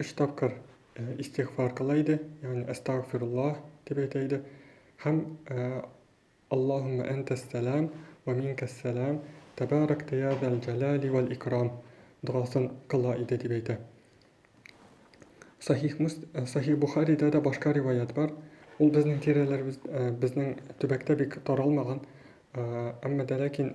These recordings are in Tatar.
өч тапкыр истигъфар кыла иде, ягъни әстәгъфируллаһ дип әйтә иде. Һәм Аллаһумма әнтәс-сәлам ва минкәс-сәлам, тәбаракта я зәл җәлали вәл икрам дугасын кыла иде дип әйтә. Сахих Мус Сахих Бухаридә дә башка риваят бар. Ул безнең тирәләребез безнең төбәктә бик таралмаган, әмма дә ләкин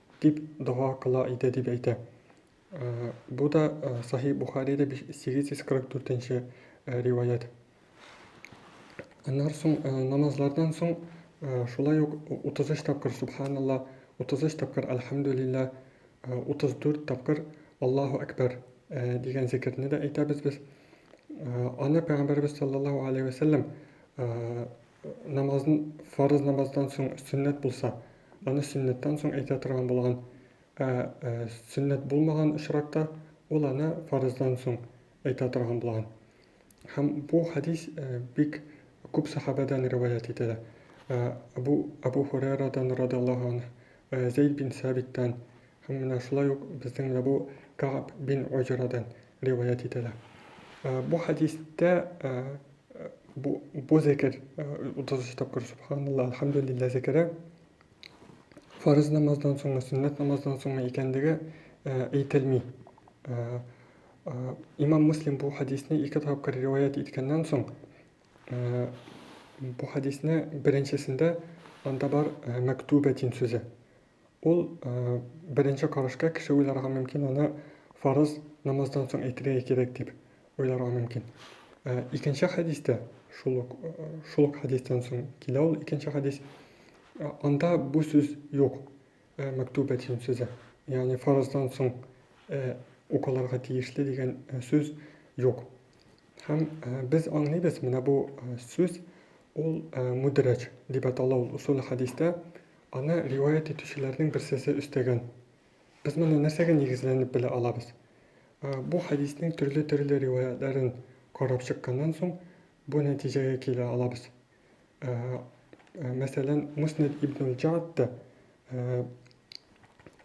Дип дога кыла иде дип әйтә. Бу да Сахи Бухарида 844 нче риваять. Аннан соң намазлардан соң шулай ук 33 тапкыр субханалла, 33 тапкыр альхамдулилла, 34 тапкыр Аллаһу әкбәр дигән зикерне дә әйтәбез без. Аны пәйгамбәрбез саллаллаһу алейһи ва саллям намазын фарыз намаздан соң сөннәт булса, Аны сөннәттән соң әйтә торган булган. Ә сөннәт булмаган очракта ул аны фарыздан соң әйтә торган булган. Һәм бу хәдис бик күп сәхабәдән риваять ителә. Абу Абу Хурайрадан радиллаһу анһ, Зәйд бин Сәбиттән һәм менә шулай ук безнең Абу Кааб бин Уҗрадан риваять ителә. Бу хәдистә бу зекер, 33 тапкыр Сөбханалла, Әлхәмдүлиллә зекере, фарыз намаздан соңмы, сөннәт намаздан соңмы икәнлеге әйтелми. Имам Муслим бу хәдисне ике тапкыр риваять иткәннән соң, бу хәдисне беренчесендә анда бар мәктүбәтин сүзе. Ул, беренче карашка, кеше уйларга мөмкин, аны фарыз намаздан соң әйтергә кирәк дип уйларга мөмкин. Икенче хәдистә, шул ук, шул ук хәдистән соң килә ул икенче хәдис, анда бу сүз юк, мәктүбәтин сүзе, ягъни фарыздан соң укылырга тиешле дигән сүз юк. Һәм без аңлыйбыз, менә бу сүз, ул мудрәҗ дип атала ул усул хәдистә, Аны риваять итүчеләрнең берсесе өстәгән. Без моны нәрсәгә нигезләнеп белә алабыз? Бу хәдиснең төрле-төрле риваятьләрен карап чыкканнан соң, бу нәтиҗәгә килә алабыз. Мәсәлән, Муснәд ибн аль-Җаадта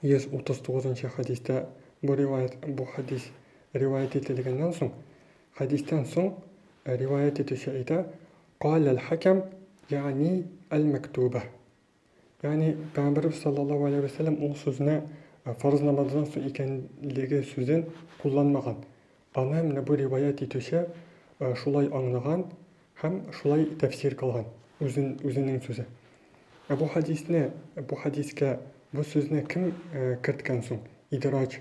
139 нчы хәдистә бу риваять бу хәдис риваять ителгәннән соң, хәдистән соң риваять итүче әйтә, Калә әл-хәкәм, йәгъни әл-мәктүбә. Ягъни Пәйгамбәребез саллаллаһу галәйһи вә сәлләм ул сүзне фарыз намаздан соң икәнлеге сүзен кулланмаган. Аны менә бу риваять итүче шулай аңлаган һәм шулай тәфсир кылган, үзен, үзенең сүзе. Ә бу хәдисне, бу хәдискә бу сүзне кем керткән соң? Идраҗ